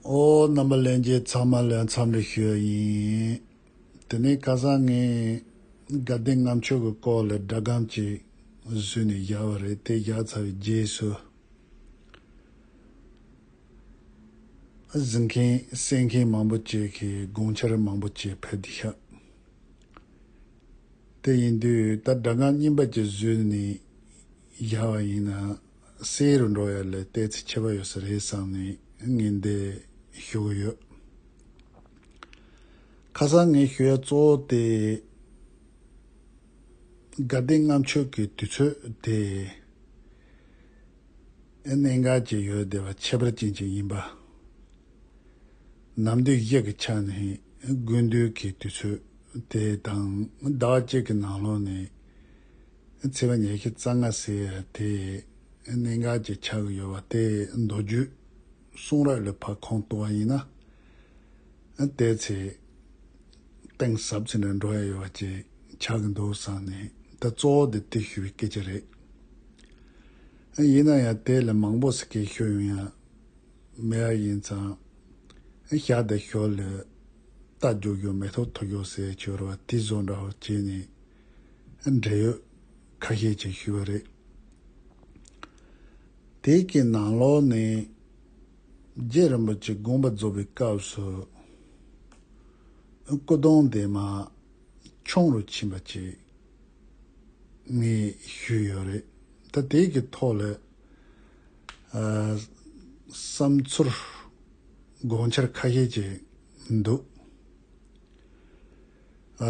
ཨོ། རྣམ་པ་ལེན་རྗེས་ཚང་མ་ལོས་མཚམས་རེ་ཞོས་ཡིན། དེ་ནས་ཁ་སང་ངས་དགའ་ལྡན་ངམ་ཆོས་ཀྱི་སྐོར་ལ་སྒྲ་སྒམ་ཅིག་བཟོས་ནས་བཞག་པ་རེད་དེ་བཞག་ཚར་བའི་རྗེས་སུ། གཟིགས་མཁན་གསན་མཁན་མང་པོ་བཅས་ཀྱིས་དགོངས་འཆར་མང་པོ་བཅས་ཕེབས་ཏེ་བཞག། དེ་ཡིན་དུས་ད་སྒྲ་སྒམ་རྙིང་པ་ཅིག་བཟོས་ནས་བཞག་པ་ཡིན། སེ་རུ་འགྲོ་ཡ་ལས་ལྟས་ཚིག་ཆད་པ་ཡོད་ས་རེད་བསམ་ནས་ངས་འདི་ཞུ་གི་ཡོད། ཁ་སང་ངས་ཞུ་ཡ་གཙོ་བོ་དེ་དགའ་ལྡན་ལྔ་མཆོད་ཀྱི་དུས་ཚོད་དེ་གནད་འགག་ཅིག་ཡོད་བསྡད་པ་ཁྱད་པར་ཅན་ཅིག་ཡིན་པ། ནམ་དུས་བཞི་གི་ཆ་ནས་དགུན་དུས་ཀྱི་དུས་ཚོད་དེ་དང་ཟླ་བ་གཅིག་གི་ནང་ལོགས་ནས། ཚེས་པ་ཉེར་བཞི་རྩ་ལྔ་ཟེར་བ་དེ་གནད་འགག་ཅིག་ཆགས་ཀྱི་ཡོད་པ་སྟེ་མདོ་རྒྱུད་གསུང་རབ་ལས་ཕ་ཁོང་བཏུ་བ་ཡིན་ན། དེའི་ཚེ་གཏིང་ཟབ་ཚད་ནས་འགྲོ་ཡ་ཡོད་པ་ཅིག་ཆགས་ཀྱི་འདུག་བསམ་ནས་དེ་གཙོ་བོ་དེ་ཏིག་ཞུ་བའི་སྐད་ཆ་རེད། ཡིན་ན་ཡང་དེ་ལས་མང་པོ་ཟེར་མཁན་ཤོད་ཡོང་ཡ་མེད་ཡ་ཡིན་ཙང་ཞག་འདིར་ཞོར་ལས་རྟ་རྒྱུག་རྒྱུག་མེ་ཐོག་འཐུ་རྒྱུག་ཟེར་བའི་ཆོས་ར་བ་ཏི་བཟོ་འདྲ་བོ་བྱས་ནས་འབྲེལ་ཡོད་ཁ་ཤས་ཀྱིས་ཞུས་པ་རེད། དེའི་གི་ནང་ལོགས་ནས་རྗེ་རིན་པོ་ཆེ་དགོངས་པ་རྫོགས་པའི་སྐབས་སུ་སྐུ་གདུང་འདི་མ་འཁྱོངས་རུ་ཕྱིན་པ་ཅིག་ངས་ཞུས་ཡོད་རེད། ད་དེའི་གི་ཐོག་ལ་བསམ་ཚུལ་དགོངས་འཆར་ཁ་ཤས་ཀྱིས་འདུག་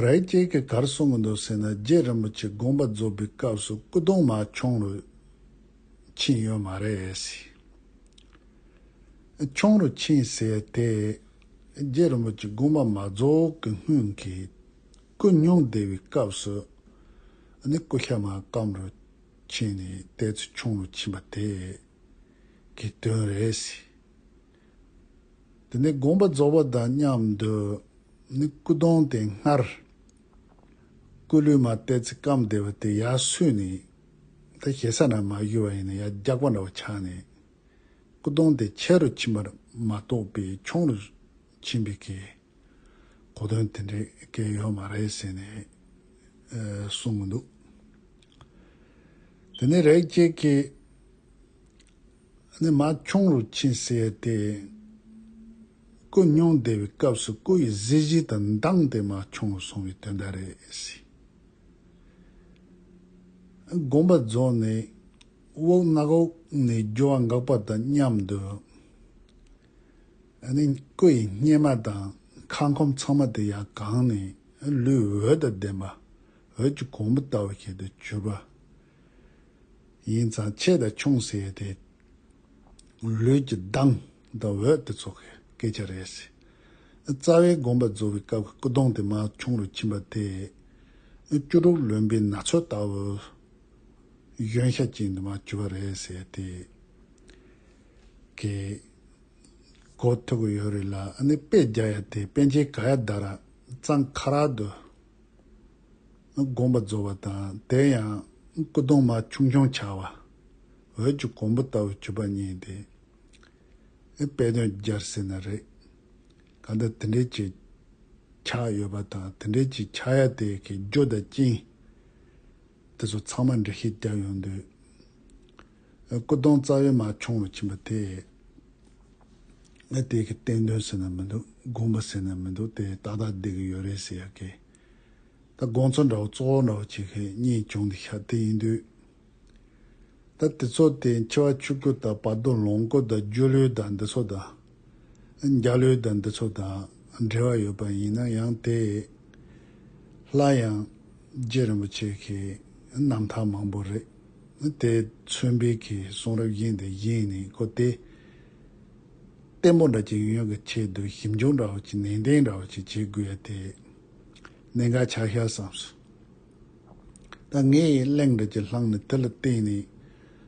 རྭའི་སྐྱེས་ཀྱི་གར་སྲུང་གི་འདུག་ཟེར་ན་རྗེ་རིན་པོ་ཆེ་དགོངས་པ་རྫོགས་པའི་སྐབས་སུ་སྐུ་གདུང་མ་ཁྱོང་རུ་ཕྱིན་ཡོད་མ་རེད། ཁྱོང་རུ་ཕྱིན་ཟེར་དེ་རྗེ་རིན་པོ་ཆེ་དགོངས་པ་མ་རྫོགས་ཀྱི་སྔོན་གྱི་སྐུ་སྙུང་བདེ་བའི་སྐབས་སུ་ནི་སྐུ་ཤ་མ་སྐམ་རུ་ཕྱིན་ནས་དེ་ཚོས་ཁྱོང་རུ་ཕྱིན་པ་དེ་གི་དོན་རེད། དེ་ནས་དགོངས་པ་རྫོགས་པ་དང་མཉམ་དུ་ནི་སྐུ་གདུང་དེ་སྔར་སྐུ་ལུས་མ་གཏད་ཚེ་སྐམ་བདེ་བ་དེ་ཡར་བསུས་ནས་དེ་ཞེ་ས་ན་མ་གཞུ་བ་ཡིན་ན་ཡར་རྒྱག་པ་འདྲ་བ་ཆགས་ནས་སྐུ་གདུང་དེ་ཆེ་རུ་ཕྱིན་པར་མ་རྟོགས་པས་ཆུང་རུ་ཕྱིན་པའི་སྐད། གོ་དོན་དེ་འདྲའི་སྐད་ཡོད་མ་རེད་ཟེར་ནས་གསུང་གི་འདུག་དེ་ནས་རེག་བྱའི་སྐད། ནི་མ་འཁྱོངས་རུ་ཆེན་བསད་དེ། སྐུ་སྙུང་བདེ་བའི་སྐབས་སུ་སྐུ་ཡི་གཟི་བརྗིད་དང་མདངས་དེ་མ་འཁྱོངས་སོང་བའི་དོན་དག་རེད་སྲིད། དགོངས་པ་རྫོགས་ནས་དབུགས་རྣག་འོག་ནས་རྒྱུ་བ་འགག་པ་དང་མཉམ་དུ། ནི་སྐུ་ཡི་སྙེ་མ་དང་ཁ་འཁོམ་ཚང་མ་དེ་ཡང་གང་ནས་ལུས་འོད་དང་ལྡན་པ་འོད་ཀྱི་གོང་བུ་ལྟ་བུ་ཞིག་ཏུ་གྱུར་པ། ཡིན་ཙང་ཆེས་དང་ཆུང་ཟེར་ཡས་དེ། ལུས་ཀྱི་མདངས་དང་འོད་དེ་ཚོ་གི་སྐད་ཆ་རེད་ཟེར། རྩ་བའི་དགོངས་པ་རྫོགས་པའི་སྐབས་ཀྱི་སྐུ་གདུང་དེ་མ་ཆུང་རུ་ཕྱིན་པ་དེ། བཅུ་དྲུག་ལོན་པའི་ན་ཚོད་ལྟ་བུ། གཞོན་ཤ་ཅན་དེ་མ་གྱུར་པ་རེད་ཟེར་དེ། གི། གོ་ཐོས་གི་ཡོད་རེད་ལ་ཨ་ནི་དཔེ་རྒྱག་ཡས་དེ་པན་ཆེན་ག་ཡ་ད་ར་ཙང་ཁ་རག་དུ། བསྒོམ་པ་རྫོགས་པ་དང་དེ་ཡང་སྐུ་གདུང་མ་ཆུང་ཆུང་བྱ་བ། འོད་ཀྱི་གོང་བུ་ལྟ་བུ་བརྒྱུད་པ་གཉིས་ཏེ། དཔེ་དོན་སྦྱར་ཟིན་ན་རེག་ག་འདི་དེ་འདྲའི་ཆེ་ཆ་ཡོད་པ་དང་དེ་འདྲའི་ཆེ་ཆ་ཡ་དེ་གི་རྒྱུ་དང་རྐྱེན། དེ་ཚོ་ཚང་མ་འགྲེལ་བཤད་བརྒྱབ་ཡོང་དུས། སྐུ་གདུང་རྩ་བའི་མ་འཁྱོངས་བར་ཕྱིན་པ་དེས། ངས་དེ་གའི་བསྟན་དོན་ཟེར་ན་མི་འདུག་དགོངས་པ་ཟེར་ན་མི་འདུག་དེ་ཏག་ཏག་བསྡད་ཀྱི་ཡོད་རེད་ཟེར་ཡག་གི། ད་དགོངས་ཚོགས་འདྲ་བོ་གཙོ་བོ་འདྲ་བོ་བྱེད་མཁན་གཉིས་བྱུང་འདི་ཤ་སྟེ་ཡིན་དུས། ད་དེ་ཚོ་དེ་འཆི་བ་ཆུ་སྐྱུར་དང་བར་དོ་ལོངས་སྐུ་དང་སྒྱུ་ལུས་དང་འདི་ཚོ་དང། འཇའ་ལུས་དང་འདི་ཚོ་དང་འབྲེལ་བ་ཡོད་པ་ཡིན་ན་ཡང་དེས། སླར་ཡང་རྗེ་རིན་པོ་ཆེ་གི་རྣམ་ཐར་མང་པོ་རེད། དེ་མཚོན་དཔེ་གི་གསུང་རབ་དབྱིངས་དེ་བཞིན་ནི་ཀོ་ཏེ། བརྟན་པོ་འདྲ་གཅིག་ཡོང་ཡོང་གི་ཆེད་དུ་ཞིབ་འཇུག་འདྲ་བོ་ཅིག་ནན་ཏན་འདྲ་བོ་ཅིག་བྱེད་དགོས་ཡ་དེ། གནད་འགག་ཆགས་ཤར་བསམས་སོ། ད་ངས་གླེང་འདོད་ཀྱི་ལྷང་ནི་དེ་ལ་བརྟེན་ནས་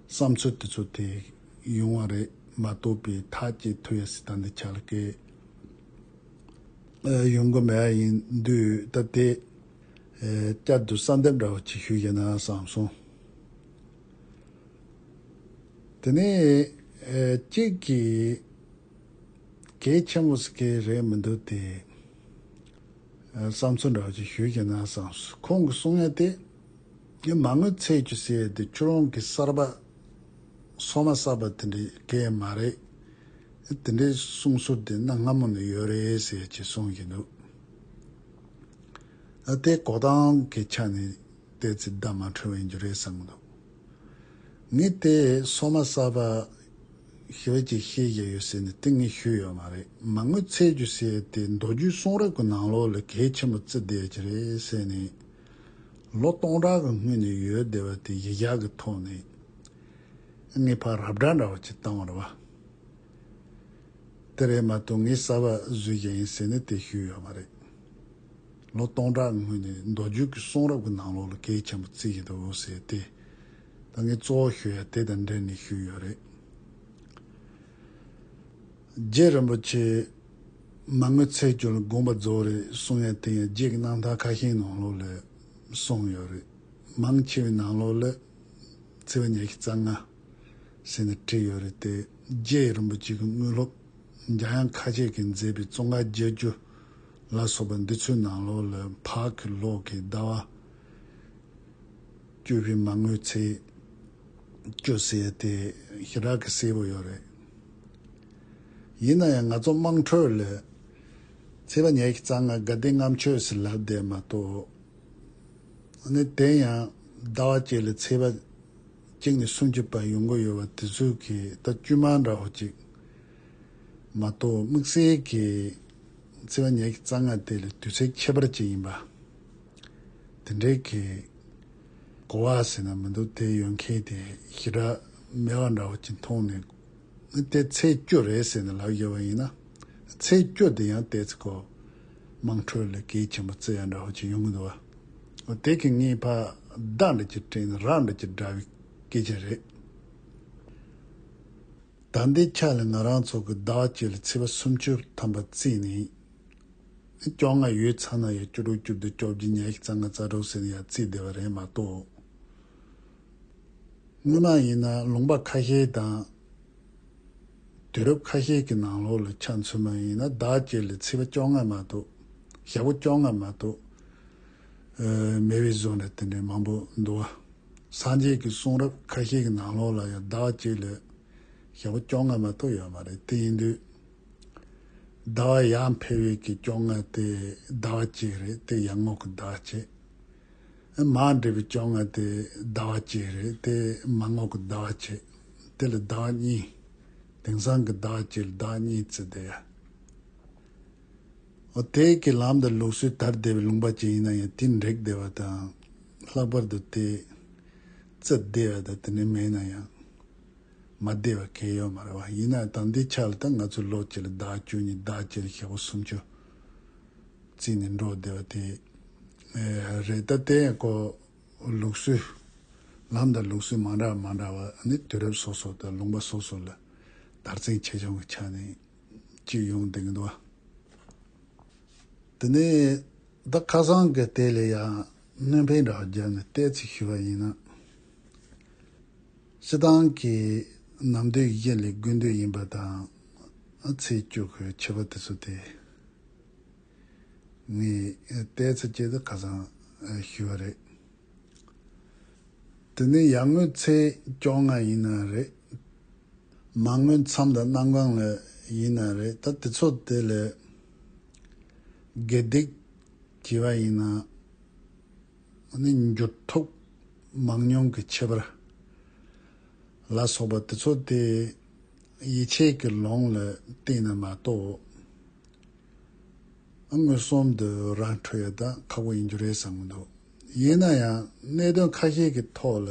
བསམ་ཚུལ་དེ་ཚོ་དེ། ཡོང་བ་རེད་མ་གཏོགས་པའི་ཐག་བཅད་ཐུ་ཡ་སི་ཐ་འདི་ཆ་ལ་ཀའི་ཡོང་གི་མེད་པ་ཡིན་དུས་ད་དེ་བསྐྱར་དུ་གསར་འདེབས་འདྲ་བོ་བྱེད་ཤོས་ཡིན་ན་བསམ་སོང། དེ་ནས་གཅིག་གིས་གལ་ཆེན་པོ་ཟེར་གི་རེད་མི་འདུག་དེ་བསམ་ཚུལ་འདྲ་བོ་བྱེད་ཤོས་ཡིན་ན་བསམ་སོང། ཁོང་གི་གསུང་ཡ་དེ་ངས་མ་དངུལ་ཚད་ཅིག་བསད་དེ་ཁྱོད་རང་གིས་གསར་པ་སོ་མ་ཟ་བ་དེ་འདྲའི་སྐད་མ་རེད། དེ་འདྲའི་གསུང་ཟུར་དེ་གནའ་སྔ་མོ་ནས་ཡོད་རེད་ཟེར་གྱི་གསུང་གི་འདུག་ཨ། དེ་གོ་སྟངས་ཀྱི་ཆ་ནས་བལྟས་ཚེ་བརྡ་མ་འཕྲོད་འོན་རྒྱུ་རེད་བསམ་གྱི་འདུག་ངས་དེ་སོ་མ་ཟ་བ་ཞི་བ་ཅིག་ཤེས་བཞིན་ཡོད་ཟེར་ནས་དེ་ངས་ཞུས་ཡོད་མ་རེད་མ་དངུལ་ཚད་རྒྱུ་ཟེར་དེ་མདོ་རྒྱུད་གསུང་རབ་ཀྱི་ནང་ལོགས་ལས་གལ་ཆེན་པོ་བརྩི་བསྡད་ཀྱི་རེད་ཟེར་ནས་ལོ་སྟོང་ཕྲག་གི་སྔུན་ནས་ཡོད་བསྡད་པ་དེ་གཞི་བཞག་གི་ཐོག་ནས་ངའི་ཕ་རབ་སྒྲ་འདྲ་བ་ཅིག་བཏང་བར་བ། དེ་རེད་མ་གཏོགས་ངས་གསར་བ་བཟོས་ཀྱང་ཡིན་ཟེར་ནས་དེ་ཤོད་ཡོད་མ་རེད། ལོ་སྟོང་ཕྲག་སྔོན་ནས་མདོ་རྒྱུད་ཀྱི་གསུང་རབ་ཀྱི་ནང་ལོགས་ལ་གད་ཆེན་པོ་བརྩིགས་ཀྱི་འདུག་ཟེར་ཏེ། ད་ངས་གཙོ་བོ་ཤོད་ཡ་དེ་དང་འབྲེལ་ནས་ཤོད་ཡོད་རེད། རྗེ་རིན་པོ་ཆེས། མ་དངུལ་ཚད་སྐྱོན་ལ་དགོངས་པ་རྫོགས་རེད་གསུང་ཡ་དེ་ཡང་རྗེས་ཀྱི་གནང་ཐང་ཁ་ཤས་ནང་ལོགས་ལས་གསུངས་ཡོད་རེད། མང་ཆེ་བའི་ནང་ལོགས་ལས། བརྩེ་བ་ཉག་གི་རྩ་སྔ་ཟེར་ནས་བྲིས་ཡོད་རེད་དེ་རྗེ་རིན་པོ་ཆེ་གི་དངུལ་སློབ་རྒྱ་ཡང་ཁ་ཆད་ཀྱིས་མཛད་པའི་ཙོང་ཁ་རྒྱལ་རྒྱུ་ལ་སོགས་པ་འདི་ཚོའི་ནང་ལོགས་ལ་ཕག་གི་ལོགས་ཀྱི་ཟླ་བ་བཅུ་བཞི་མ་དངུལ་ཚེས་བཅུ་བསྲེས་ཏེ་ཞི་རག་གིས་བསྲེས་པོ་ཡོད་རེད། ཡིན་ན་ཡང་ང་ཚོ་དམངས་ཁྲོད་ལ་བརྩེ་བ་ཉག་གི་རྩ་སྔ་དགའ་ལྡན་རྔམ་ཆོས་ཟེར་ལབ་བསྡད་མ་གཏོགས། ནས་དེ་ཡང་ཟླ་བ་གཅིག་ལ་ཚེས་པ་གཅིག་ནས་སུམ་ཅུ་བར་ཡོང་གི་ཡོད་པ་དེ་ཚོའི་གི་ད་དཀྱུས་མ་འདྲ་བོ་གཅིག་མ་གཏོགས་དམིགས་བསལ་གི་ཚེས་པ་ཉའི་གི་རྩ་སྔ་དེ་ལས་དུས་ཚོད་ཁྱད་པར་ཅིག་ཡིན་པ་དེ་འདྲའི་གི་གོ་བ་ཟེར་ན་མི་འདུག་དེ་ཡོད་མཁན་དེ་ཞི་དྲག་མེ་བ་འདྲ་བོ་གཅིག་མཐོང་ནས་ནི་དེ་ཚེས་དཀྱུས་རེད་ཟེར་ནས་ལབ་ཡོད་པ་ཡིན་ན་ཚེས་དཀྱུས་དེ་ཡང་དེ་ཚོ་གོ། དམངས་ཁྲོད་ལས་གལ་ཆེན་པོ་བརྩི་ཡ་འདྲ་བོ་ཅིག་ཡོང་གི་འདུག་བ། འོ་དེ་གི་ངའི་ཕ་བདག་འདྲ་གྱི་དྲིན་ར་འདྲ་གྱི་འདྲ་བའི་སྐད་ཆ་རེད། ད་འདི་ཆ་ལ་ང་རང་ཚོ་གི་བདག་བསྐྱེད་ལ་ཚེས་པ་སུམ་ཅུ་ཐམ་པ་བརྩིས་ནས་སྐྱོ་ང་ཡོད་ཚ་ན་ཡང་བཅུ་དྲུག་བཅུ་བདུན་བཅོ་བརྒྱད་ཉལ་ཤི་ཚ་ང་ཚ་དྲུག་ཟེར་ནས་ཡང་བརྩིས་བསྡད་པ་རེད་མ་གཏོགས། སྔོན་མ་ཡིན་ན་ལུང་པ་ཁ་ཤས་དང། དུས་རབས་ཁ་ཤས་ཀྱི་ནང་ལོགས་ལ་ཆ་མཚོན་མ་ཡིན་ན་བདག་བསྐྱེད་ལས་ཚིག་པ་བཅོ་ལྔ་མ་གཏོགས། ཞལ་བོ་བཅོ་ལྔ་མ་གཏོགས། མེད་པའི་བཟོ་འདྲ་དེ་འདྲའི་མང་པོ་འདུག་ཨ། སངས་རྒྱས་ཀྱི་གསུང་རབ་ཁ་ཤས་ཀྱི་ནང་ལོགས་ལ་ཡང་བདག་བསྐྱེད་ལས། ཞལ་བོ་བཅོ་ལྔ་མ་གཏོགས་ཡོད་མ་རེད་དེ་ཡིན་དུས། ཟླ་བ་ཡང་འཕེལ་བས་ཀྱི་བཅོ་ལྔ་དེ་བདག་བསྐྱེད་རེད་དེ་ཡང་ངོགས་ཀྱི་བདག་བསྐྱེད། མ་འདྲེས་པའི་བཅོ་ལྔ་དེ་ཟླ་བ་གཅིག་རེད་དེ་མ་ངོགས་ཀྱི་ཟླ་བ་ཕྱེད་དེ་ལ་ཟླ་བ་གཉིས། དེང་སང་གི་ཟླ་བ་གཅིག་ལ་ཟླ་བ་གཉིས་བརྩི་བསྡད་ཡ། འོ་དེ་གི་ལམ་དང་ལུགས་སྲོལ་དར་བསྡད་པའི་ལུང་པ་ཅན་ཡིན་ན་ཡང་དེ་འགྲིག་བསྡད་པ་དང། ལྷག་པར་དུ་དེ་བརྩི་བསྡད་ཡ་དང་དེ་འདྲ་མེད་ན་ཡང་མ་བསྡད་པ་གལ་ཡོད་མ་རེད་བ། ཡིན་ན་ཡང་ད་འདི་ཆ་ལ་ད་ང་ཚོའི་ལོ་གཅིག་ལ་ཟླ་བ་བཅུ་གཉིས་ཟླ་བ་གཅིག་ལ་ཞག་པོ་སུམ་ཅུ། བརྩིས་ནས་འགྲོ་བསྡད་པ་དེ་རེད་ད་ལྟའི་སྐོར་ལུགས་སྲོལ་ལམ་དང་ལུགས་སྲོལ་མ་འདྲ་མ་འདྲ་བ་ནི་དུས་རབས་སོ་སོ་དང་ལུང་པ་སོ་སོ་ལ་དར་རྩིང་ཆེ་ཆུང་གི་ཆ་ནས་གཅིག་ཡོང་བསྡད་ཀྱི་འདུག་བ། དེ་ནས་ད་ཁ་སང་གི་དེ་ལ་ཡང་སྣོན་ཕན་འདྲ་བ་བརྒྱབ་ནས་གཏད་ཚིག་ཞུས་པ་ཡིན་ན། སྤྱི་བཏང་གིས་ནམ་དུས་ཡི་གེ་ལས་དགུན་དུས་ཡིན་པ་དང་ཚེས་བཅུ་གི་ཕྱི་པ་དེ་ཚོ་དེ་ནི་ལྟས་ཚེ་སྐྱེལ་དུ་ཁ་སང་ཞུས་བ་རེད། དེ་ནི་ཡར་ངོའི་ཚེས་བཅོ་ལྔ་ཡིན་ན་རེད། མར་ངོའི་མཚམས་དང་གནམ་གང་ལ་ཡིན་ན་རེད་ད་དེ་ཚོ་དེ་ལས་དགེ་སྡིག་བགྱི་བ་ཡིན་ན། འོ་ན་འགྱུར་ལྡོག་མང་ཉུང་གི་ཁྱད་པར་ལ་སོགས་པ་དེ་ཚོ་དེ་ཡིད་ཆེས་ཀྱི་ལོང་ལ་བརྟེན་ནས་མ་གཏོགས་མངོན་སུམ་དུ་རང་འཕྲོ་ཡོད་ད་ཁག་པོ་ཡིན་རྒྱུ་རེད་བསམ་གྱི་འདུག་ཡིན་ན་ཡང་གནད་དོན་ཁ་ཤས་ཀྱི་ཐོག་ལ་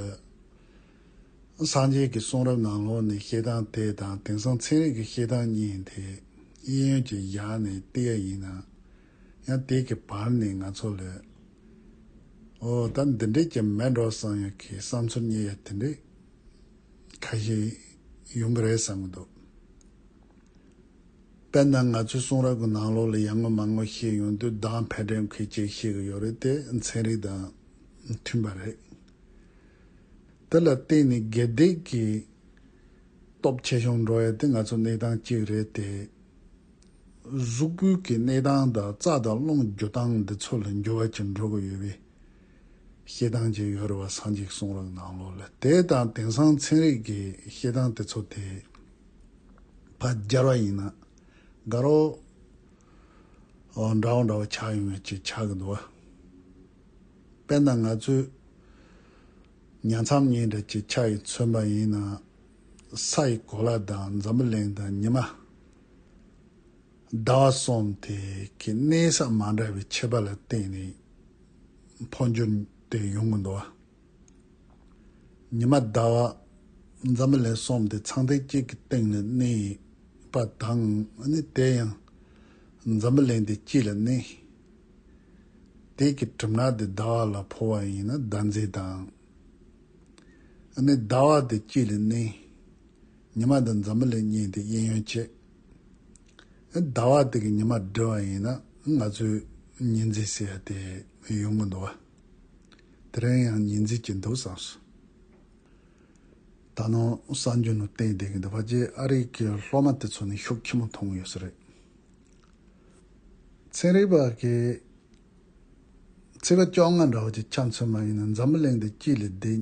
སངས་རྒྱས་ཀྱི་གསུང་རབ་ནང་ལོགས་ནས་བཤད་སྟངས་དེ་དང་དེང་སང་ཚན་རིག་གི་བཤད་སྟངས་གཉིས་དེ་དབྱིན་ཡོན་གྱི་ཞག་ནས་བལྟས་ཡ་ཡིན་ན་ཡང་དེ་གི་བར་ནས་ང་ཚོ་ལས། ཨོ་ད་འདི་འདྲས་ཀྱི་མེད་འགྲོ་བསམ་ཡང་ཁའི་བསམ་ཚུལ་གཉིས་ཡ་དེ་འདྲས་ཁ་ཞིག་ཡོང་གི་རེད་བསམ་གི་འདུག། དཔེར་ན་ང་ཚོའི་གསུང་རབ་ཀྱི་ནང་ལོགས་ལ་ཡར་ངོ་མར་ངོ་ཤེས་ཡོང་དུས་གདངས་འཕེལ་འགྲིབ་མཁན་གཅིག་བཤད་གི་ཡོད་རེད་དེ་ཚན་རིག་དང་མཐུན་པ་རེད། དེ་ལ་བརྟེན་ནས་དགེ་སྡིག་གི་སྟོབས་ཆེ་ཆུང་འགྲོ་ཡ་དེ་ང་ཚོའི་གནས་སྟངས་གཅིག་རེད་དེ། གཟུགས་པོའི་གི་གནས་སྟངས་དང་རྩ་དང་རླུང་རྒྱུ་སྟངས་འདི་ཚོ་ལ་འགྱུར་བ་ཅི་འགྲོ་གི་ཡོད་པའི་བཤད་སྟངས་ཅིག་ཡོད་རེད་བ་སངས་གཅིག་གསུང་རབ་ནང་ལོག་ལ་དེ་དང་དེང་སང་ཚན་རིག་གི་བཤད་སྟངས་དེ་ཚོ་དེ་བ་སྦྱར་བ་ཡིན་ན་དགའ་རོགས། འདྲ་བོ་འདྲ་བོ་ཆགས་ཡོང་བའི་ཅིག་ཆགས་གི་འདུག་བ། དཔེར་ན་ང་ཚོའི་ཉལ་མཚམས་གཉིས་འདྲ་ཅིག་ཆགས་ཡིན་མཚོན་པ་ཡིན་ན་ས་ཡི་གོ་ལ་དང་འཛམ་བུ་གླིང་དང་ཉི་མ་ཟླ་བ་གསུམ་དེ་གའི་གནས་ས་མ་འདྲ་བའི་ཁྱད་པར་ལ་བརྟེན་ནས་འཕོ་འགྱུར་དེ་ཡོང་གི་འདུག་ཉི་མ་ཟླ་བ་འཛམ་བུ་ལན་གསུམ་དེ་ཚངས་ཐིག་གཅིག་གི་སྟེང་ལ་གནས་པ་དང་ནི་དེ་ཡང་འཛམ་བུ་ལན་དེ་སྤྱི་ལ་གནས་དེ་གའི་གྲིབ་ནག་དེ་ཟླ་བ་ལ་འཕོ་བ་ཡིན་ན་ཟླ་མཛེས་དང་ནི་ཟླ་བ་དེ་སྤྱི་ལ་གནས་ཉི་མ་དང་འཛམ་བུ་ལས་བསྙེགས་ཏེ་གཡས་གཡོན་བཅད། ཟླ་བ་དེ་གི་ཉི་མ་བསྒྲིལ་བ་ཡིན་ན་ང་ཚོས་ཉི་འཛིན་ཟེར་ཡ་དེ་ཡོང་གི་འདུག་བ། དེ་རིང་ཡང་ཉི་འཛིན་གྱི་འདུག་བསམས་སོ། ད་ནངས་གསར་འགྱུར་ནང་བསྟན་བསྡད་ཀྱི་འདུག་བ་རྗེས་ཨ་རིག་གི་སློབ་མ་དེ་ཚོ་ནས་ཤུགས་ཁྱི་མོ་མཐོང་གི་ཡོད་ས་རེད། ཚན་རིག་པ་གི་ཚིག་ལ་སྐྱོགས་ང་འདྲ་བ་གྱི་ཆ་མཚོན་མ་ཡིན་ན་འཛམ་བུ་གླིང་འདི་སྐྱིད་ལས་བདེ།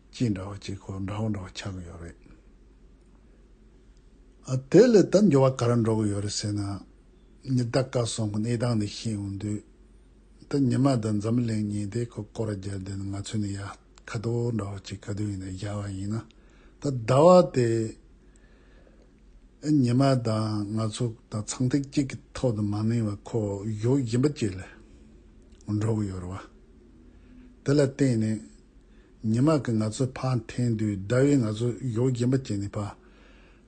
གཅིག་འདྲ་བ་གཅིག་གོ་འདྲ་བོ་འདྲ་བ་ཆགས་ཀྱི་ཡོད་རེད། ཨ་དེ་ལས་ད་འགྱུར་བ་ག་རེ་འགྲོ་གི་ཡོད་རེད་ཟེར་ན། ཉི་ཟླ་བཀའ་སོང་གི་གནས་སྟངས་འདི་ཤེས་ཡོང་དུས། ད་ཉི་མ་ད་འཛམ་གླིང་ཉི་ཟླའི་ཁོ་སྐོར་བརྒྱབ་བསྡད་ན་ང་ཚོས་ནི་ཡ་ཁ་དོག་འདྲ་བ་གཅིག་ག་དུས་ཡིན་ནའི་བཞག་པ་ཡིན་ན་ད་ཟླ་བ་དེ་ཉི་མ་དང་ང་ཚོ་ད་ཚངས་ཐིག་གཅིག་གི་ཐོག་ཏུ་མ་གནས་བར་ཁོ་བོ་གཞོགས་གཞན་པ་གཅིག་ལ་འགྲོ་གི་ཡོད་རེད་བ། དེ་ལ་བརྟེན་ནས་ཉི་མ་གིས་ང་ཚོའི་ཕ་འཐེན་དུས་ཟླ་བས་ང་ཚོའི་གཡོག་རྒན་པ་བསྐྱེད་ནས་ཕ།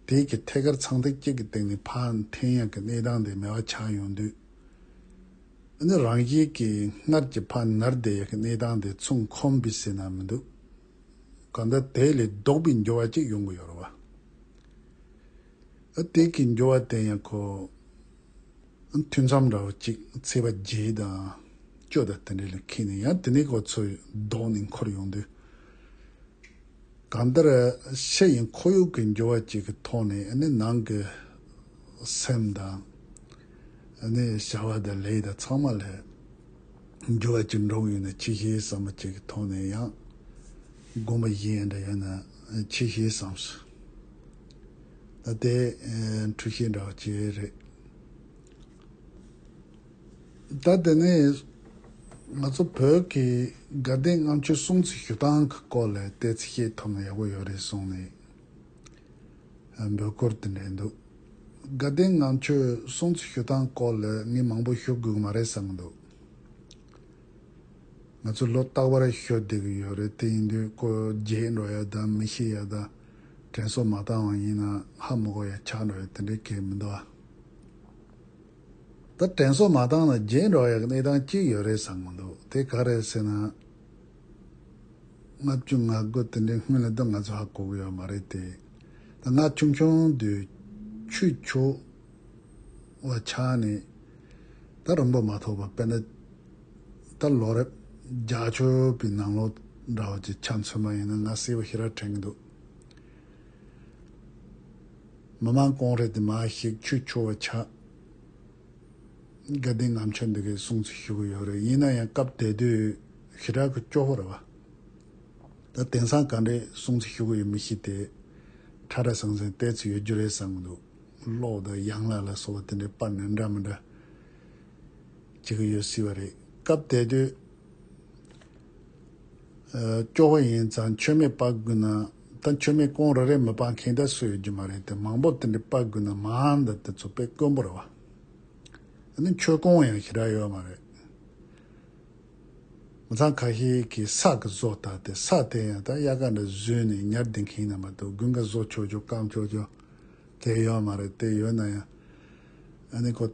དེས་ཀྱི་ཐད་ཀར་ཚངས་ཐིག་གཅིག་གི་སྟེང་ནས་ཕ་འཐེན་ཡང་གི་གནས་སྟངས་དེ་མེད་བ་ཆགས་ཡོང་དུས། འོ་ན་རང་རྒྱལ་གྱི་སྔར་གྱི་ཕ་ནར་བསྡད་ཡང་གི་གནས་སྟངས་དེ་ཚུང་ཁོམ་བི་སེ་ན་མི་འདུག་གང་ལྟར་དེ་ལས་ལྡོག་པའི་འགྱུར་བ་གཅིག་ཡོང་གི་ཡོད་རེད་བ། ཨ་དེས་ཀྱི་འགྱུར་བ་དེ་ཡང་གོ། ཐུན་མཚམས་ར་བ་གཅིག་ཚེས་པ་བརྒྱད་དང་བཅུ་དང་དེ་འདྲ་ལ་ཁེལ་ནས་ཡང་དེ་ནས་གོ་ཚོད་ལྡོག་ནས་འཁོར་ཡོང་དུས། གང་ལྟར་ཤ་ཡི་འཁོར་ཡུག་གི་འགྱུར་བ་ཅིག་གི་ཐོག་ནས་ནང་གི་སེམས་དང། བྱ་བ་དང་ལས་དང་ཚང་མ་ལ་འགྱུར་བ་ཅིག་འགྲོ་གི་ཡོད་ན་ཕྱི་གཞིའི་བསམ་པ་ཅིག་གི་ཐོག་ནས་ཡང་སྒོམ་པ་བཞི་ཡན་འདྲ་ཡོད་ན་ཕྱི་གཞིའི་བསམ། ད་དེ་འཁྲུལ་ཤེས་འདྲ་བ་ཅི་རེད། ད་དེ་ནས་ང་ཚོ་བོད་ཀྱི་དགའ་ལྡན་ལྔ་མཆོད་སྲུང་བརྩི་ཞུ་སྟངས་ཀྱི་སྐོར་ལ་བལྟས་ཚེ་ཤེས་ཐུབ་ན་ཡག་པོ་ཡོད་རེད་གསུངས་ནས་འབོད་སྐུལ་དེ་འདྲས་འདུག་དགའ་ལྡན་ལྔ་མཆོད་སྲུང་བརྩི་ཞུ་སྟངས་སྐོར་ལ་ངས་མང་པོ་ཤོད་དགོས་ཀྱི་མ་རེད་བསམ་འདུག་ང་ཚོ་ལོ་རྟག་པར་ཤོད་བསྡད་ཀྱི་ཡོད་རེད་དེ་ཡིན་དུས་ཀོ་བརྒྱད་འགྲོ་ཡ་དང་མི་ཤི་ཡ་དང། དྲན་སོགས་མ་བཏང་བ་ཡིན་ན་ཧ་མི་གོ་ཡང་ཆགས་འགྲོ་ཡང་དེ་འདྲའི་གལ་མི་འདུག་ཨ། ད་དྲན་སོགས་མ་བཏང་ན་བརྗེད་འགྲོ་ཡག་གནས་སྟངས་གཅིག་ཡོད་རེད་བསམ་གྱི་འདུག་དེ་ག་རེད་ཟེར་ན། ལྔ་བཅུ་ང་དགུ་དེ་འདྲའི་སྔོན་ལ་དུས་ང་ཚོ་ཧ་གོ་གི་ཡོད་མ་རེད་དེ། ད་ང་ཆུང་ཆུང་དུས་ཆུ་འཁྱོག་བ་ཆགས་ནས་ད་རིང་པོ་མ་ཐོགས་པར་དཔེར་ན། ད་ལོ་རེབ་རྒྱ་ཆོས་པའི་ནང་ལོ་འདྲ་བ་ཅིག་ཆ་མཚོན་པ་ཡིན་ན་ང་གསལ་བོ་ཤེས་ར་དྲན་གི་འདུག། མི་དམངས་ཀོང་རེ་དེ་མ་ཞིག་ཆོས་ཆོ་བ་ཆགས་དགའ་ལྡན་ངམ་ཆོས་འདི་གའི་གསུང་ཚིག་ཞུ་གི་ཡོད་རེད་ཡིན་ན་ཡང་སྐབས་དེ་དུས་ཞི་དྲག་གི་སྐྱོ་བོ་རེད་བ། ད་དེང་སང་ག་འདྲའི་གསུང་ཚིག་ཞུ་གི་ཡོད་མི་ཤེས་དེ། ཁྲ་ཁྲ་ཟང་ཟིང་བལྟས་ཚོད་ཡོད་རྒྱུ་རེད་བསམ་གི་འདུག། གློག་དང་གཡང་ལག་ལ་སོགས་བ་དེ་འདྲའི་པར་ནི་འདྲ་མི་འདྲ། བྱེད་ཀྱི་ཡོད་སྲིད་པ་རེད། སྐབས་དེ་དུས། སྐྱོ་བོ་ཡིན་ཙང་མཆོད་མེ་སྤག་དགོས་ན། ད་མཆོད་མེ་རྐོང་རེ་རེ་མི་སྤང་མཁན་ད་སུ་ཡོད་རྒྱུ་མ་རེད་དེ་མང་པོ་དེ་འདྲ་སྤག་དགོས་ན་མང་དེ་དེ་ཚོ་པས་དཀོན་པོ་རེད་བ། ད་ནི་མཆོད་རྐོང་ཡང་ཞེ་དྲག་ཡོད་མ་རེད། མི་ཚང་ཁ་ཤས་ཀྱིས་སག་གི་བཟོ་ལྟ་དེ་སག་དེ་ཡང་ད་གཡག་ཀ་འདྲ་བཟོས་ནས་ཉར་བསྡད་མཁན་ཡིན་ན་མ་ཏོག་དགུན་ཁ་བཟོ་ཆོག་ཆོག་བཀང་ཆོག་ཆོག་དེ་ཡོད་མ་རེད་དེ་ཡོད་ན་ཡང། ཨ་ནི་ཁོ།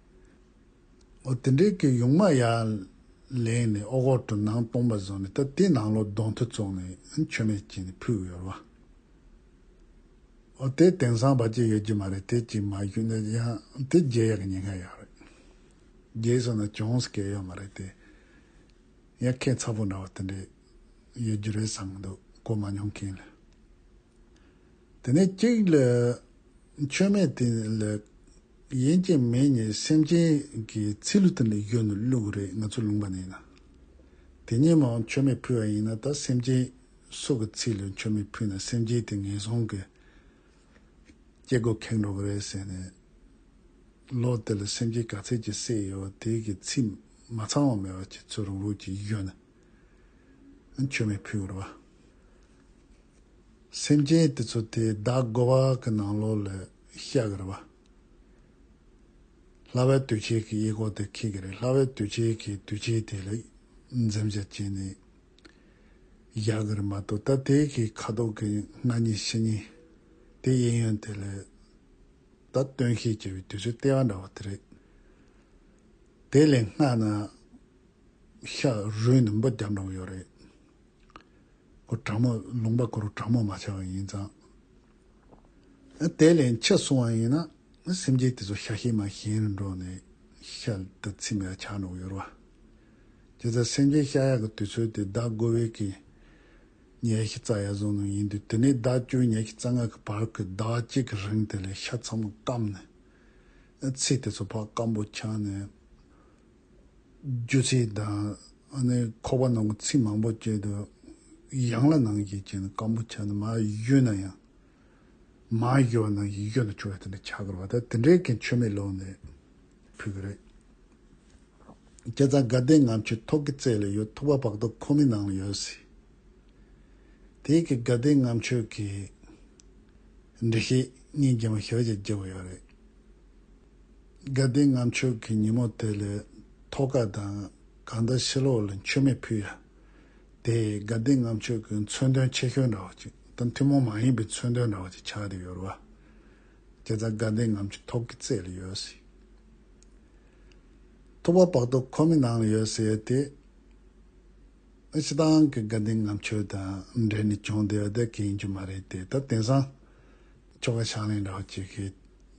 འོ་དེ་འདྲའི་ཀྱི་ཡུང་མ་ཡ། ལེན་ནས་ཨོ་གོར་དུ་ནང་སྟོང་པ་བཟོ་ནས་ད་དེ་ནང་ལོ་སྡོང་ཐུ་བཙོག་ནས་མཆོད་མེ་བསྐྱིལ་ནས་ཕུལ་ཡོད་རེད་བ། འོ་དེ་དེང་སང་བ་ཅི་ཡོད་ཀྱི་མ་རེད་དེ་ཅིག་མ་ཞུས་ན་ཡང་དེ་རྒྱལ་ཡག་གི་ཉེན་ཁ་ཡག་རེད། རྒྱལ་སོང་ན་གྱོང་སྐལ་ཡོད་མ་རེད་དེ། ཡང་ཁྱེད་ཚ་པོ་འདྲ་བ་དེ་འདྲས་ཡོད་རྒྱུ་རེད་བསམ་གི་འདུག་གོ་མ་མྱོང་མཁན་ལ། དེ་ནས་གཅིག་ལས། ཆོས་མེད་དེ་ལས། ཡན་ཅིན་མེད་གཉིས་སེམས་ཅན་གྱི་ཚེ་ལུས་དེ་ལས་གཡོས་ནས་བླུགས་གི་རེད་ང་ཚོ་ལུང་པ་ནས་ཡིན་ན། དེ་གཉིས་མའང་ཆོས་མེད་ཕུལ་བ་ཡིན་ན་ད་སེམས་ཅན་སྲོག་གི་ཚིག་ལས་ཆོས་མེད་ཕུལ་ན་སེམས་ཅན་དེ་ངན་སོང་གི་སྐྱེ་སྒོ་ཁེངས་འགྲོ་གི་རེད་ཟེར་ནས། ལོག་དེ་ལ་སེམས་ཅན་ག་ཚད་ཀྱི་བསད་ཡོད་དེ་གི་ཚིག་མ་ཚང་བ་མེད་པ་ཁྱེད་ཚོས་རང་རང་གྱིས་གཡོས་ནས། མཆོད་མེ་ཕུལ་བར་བ། སེམས་ཅན་དེ་ཚོ་དེས་བདག་བསྒོ་བ་གི་ནང་ལོགས་ལ་བཤགས་གི་རེད་བ། ལྷ་བས་དུས་ཆད་ཀྱི་གཡས་སྐོར་དེ་ཁེགས་ཀྱི་རེད་ལྷ་བས་དུས་ཆད་ཀྱི་དུས་ཆད་དེ་ལ་འཛེམ་བྱ་བྱས་ནས་བཞག་གི་རེད་མ་གཏོགས་ད་དེ་གི་ཁ་དོག་གི་སྔ་ཉིན་ཕྱི་ཉིན་དེ་གཡས་གཡོན་དེ་ལ་ད་སྟོན་བཤིག་བྱེད་པའི་དུས་ཚོད་ལྟེ་བ་འདྲ་བ་དེ་རེད། དེ་ལས་སྔ་ན། ཤ་རུས་ནི་འབུ་རྒྱབ་འདྲོངས་ཡོད་རེད། ཁོ་དྲག་མོ་ལུང་པ་ཁོར་དྲག་མོ་མ་བྱ་བ་ཡིན་ཙང། དེ་ལས་མཆེད་སོང་བ་ཡིན་ན་སེམས་ཅན་དེ་ཚོ་ཤ་ཤེད་མ་གཞན་རུ་འདྲོངས་ནས་ཤ་དུ་ཚིམ་ཡ་ཆགས་འདྲོངས་ཡོད་རོ། ཇི་ཙམ་སེམས་ཅན་ཤ་ཡག་གི་དུས་ཚོད་དེ་ཟླ་དགུ་བའི་གི་ཉའི་ཤི་རྩ་ཡ་བཟུང་ནང་ཡིན་དུས་དེ་ནས་ཟླ་བཅུའི་ཉའི་ཤི་རྩ་ལྔ་གི་བར་གི་ཟླ་བ་གཅིག་གི་རིང་དེ་ལས་ཤ་ཚང་མ་སྐམ་ནས། ཚིལ་དེ་ཚོ་ཕག་སྐམ་པོ་ཆགས་ནས། རྒྱུ་ཚིག་དང། ཁོག་པ་ནང་གི་ཚིག་མང་པོ་བཅད་དུ་ཡང་ལ་ནང་བཞིན་བྱས་ན་སྐམ་པོ་ཆགས་ན་མ་གཡོས་ན་ཡང། མ་གཡོས་ན་ཡིད་གཡོས་ན་ཆུ་བོ་དེ་འདྲ་ཆགས་དགོས་པ་དང་དེ་འདྲའི་གན་ཆུ་མེ་ལོང་ནས་ཕུལ་གི་རེད། ཁྱེད་ཚང་དགའ་ལྡན་ངམ་ཆུ་ཐོག་གི་རྩེ་ལ་ཡོད་ཐུག་པ་བག་དོག་ཁོ་མོའི་ནང་ལ་ཡོད་སྲིད། དེའི་གི་དགའ་ལྡན་ངམ་ཆུ་གི། འདྲི་ཤེས་སྙིང་རྗེ་མོ་ཞོ་ཞིག་རྒྱབ་ཡོད་རེད། དགའ་ལྡན་ངམ་མཆོག་གི་ཉིན་མོ་དེ་ལས་ཐོ་ག་དང་གང་འདྲ་ཕྱི་ལོག་ལ་མཆོད་མེ་ཕུལ་ཡ། དེས་དགའ་ལྡན་ངམ་མཆོག་གི་མཚོན་དོན་ཆེ་ཤོས་འདྲ་བ་ཅིག་དང་ཐུན་མོང་མ་ཡིན་པའི་མཚོན་དོན་འདྲ་བ་ཅིག་ཆགས་ཏེ་ཡོད། བར་ཇི་ཙམ་དགའ་ལྡན་ངམ་གྱི་ཐོབ་ཀྱི་རྩེ་ལ་ཡོད་སའི་ཐོ་བ་བག་ཐོ་ཁོ་མི་ནང་ལ་ཡོད་སའི་དེ་ནི་ཕྱི་དང་གི་དགའ་ལྡན་ངམ་མཆོག་དང་འབྲེལ་ནས་བྱུང་དེ་བ་དེ་ག་ཡིན་རྒྱུ་མ་རེད་དེ་ད་དེང་སང་ཁྱོ་ག་ཤང་ལེན་འདྲ་བ་ཅིག་གིས་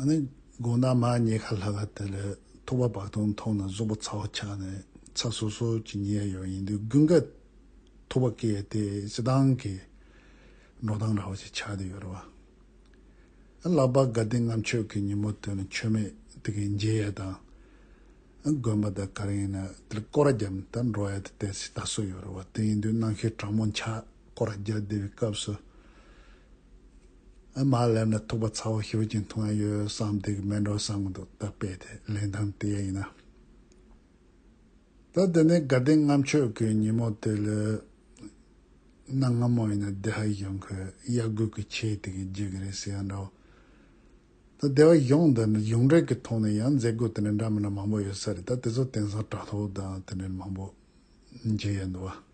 ཨ་ནི་དགོང་ཟླ་མ་གཉིས་ཁ་ལྷ་ལ་དེ་ལས་ཐུ་བ་བག་སྟོང་མཐོང་ན་གཟུགས་པོ་ཚ་བ་ཆགས་ནས་ཚ་སོ་སོ་གྱི་ཉེ་ཡོད་ཡིན་དུས་དགུན་ཁ་ཐུ་བ་སྐྱེས་ཏེ་སྤྱི་སྟངས་ཀྱི་འགྲོ་སྟངས་ར་བ་ཞིག་ཆགས་ཏེ་ཡོད་ར་བ། ཨ་ལག་པ་དགའ་ལྡན་ངམ་ཆོས་ཀྱི་ཉིན་མོ་དེ་ནི་ཆོས་མེད་དེ་གའི་མཇལ་ཡས་དང། དགོན་པ་དང་ག་རེ་ཡིན་ན་དེ་ལ་སྐོར་ར་བརྒྱབ་ནས་ད་འགྲོ་ཡས་དེ་དེར་ཞིག་ལྟ་སྲོལ་ཡོད་ར་བ་དེ་ཡིན་དུས་གནང་ཤེས་གྲང་མོ་འཆག་སྐོར་ར་བརྒྱབ་བསྡད་པའི་སྐབས་སུ། མ་སླེབས་ན་ཐུག་པ་ཚ་བོ་ཤོར་གྱི་འཐུང་ཡ་ཡོད་བསམ་སྡིག་སྨད་འགྲོ་བསམ་གི་འདུག་ད་དཔེ་དེ་ལེན་ཐང་དེ་ཡ་ཡིན་ན། ད་དེ་ནས་དགའ་ལྡན་ལྔ་མཆོད་ཀྱི་ཉིན་མོ་དེ་ལོས་ན་སྔ་མོ་ཡིན་ན་བདེ་ཧ་གཞོན་ཁོས་གཡག་རྒུད་ཀྱི་ཆས་དེ་གིས་བརྗེད་ཀྱི་རེད་ཟེར་ཡ་འདྲ་བོ། ད་བདེ་བ་གཞོན་འདི་འདྲ་གཞུང་འབྲེལ་གྱི་ཐོག་ནས་ཡང་མཛད་སྒོ་དེ་འདྲ་འདྲ་མིན་ན་མང་པོ་ཡོད་ས་རེད་ད་དེ་ཚོ་དེང་སང་དྲ་ཐོག་དང་དེ་འདྲ་མང་པོ་མཇལ་ཡ་འདུག་བ།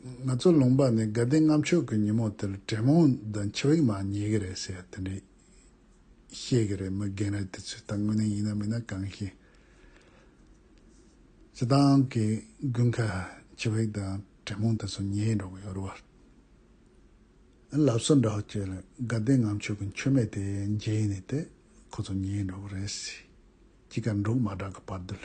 ང་ཚོ་ལུང་པ་ནས་དགའ་ལྡན་ལྔ་མཆོག་གི་ཉིན་མོ་དེར་དྲེད་མོང་དང་མཆེ་བེག་མ་ཉེ་གི་རེད་ཟེར་དེ་འདྲས་བཤད་གི་རེད་མི་རྒན་རེད་དེ་ཚོས་ད་དངོས་གནས་ཡིན་ན་མིན་ན་གང་ཤེས། སྤྱི་བཏང་གི་དགུན་ཁ་མཆེ་བེག་དང་དྲེད་མོང་དེ་ཚོ་ཉལ་འགྲོ་གི་ཡོད་རེད། ཨ་ལབ་སོ་འདྲ་བོ་ཁྱོད་ལ་དགའ་ལྡན་ལྔ་མཆོག་གི་མཆོད་མེ་དེ་མཇལ་ནས་དེ་ཁོ་ཚོ་ཉལ་འགྲོ་གི་རེད་ཟེར་གྱི་ག་འབྲུག་མ་གྲག་གི་བར་དུ་ལ།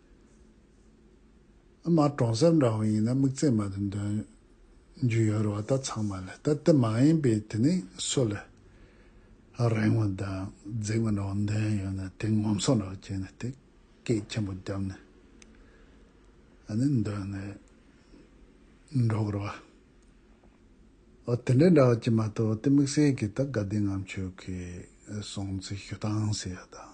ཨ་མ་གྲོང་གསེབ་འདྲ་བོ་ཡིན་ན་མིག་རྩེ་མ་དེ་འདོན་རྒྱུ་ཡོད་རེད་བ་ད་ཚང་མ་ལས་ད་དེ་མ་ཡིན་པའི་དེ་ནི་སུ་ལས་རིང་བ་དང་རྫིག་བ་འདྲ་བོ་འདོན་ཡོད་ན་དེ་ངོམ་སོ་འདྲ་བོ་བྱས་ནས་དེ་སྐད་ཆེན་པོ་བརྒྱབ་ནས་ཨ་ནི་འདོན་ནས་འགྲོ་དགོས་རེད་བ། འོ་དེ་འདྲའི་འདྲ་བོ་བྱས་མ་གཏོགས་དེ་དམིགས་བསལ་གྱིས་ད་དགའ་ལྡན་ངམ་ཆོས་ཀྱི་སྲུང་བརྩི་ཞུ་སྟངས་ཟེར་ཡག་དང།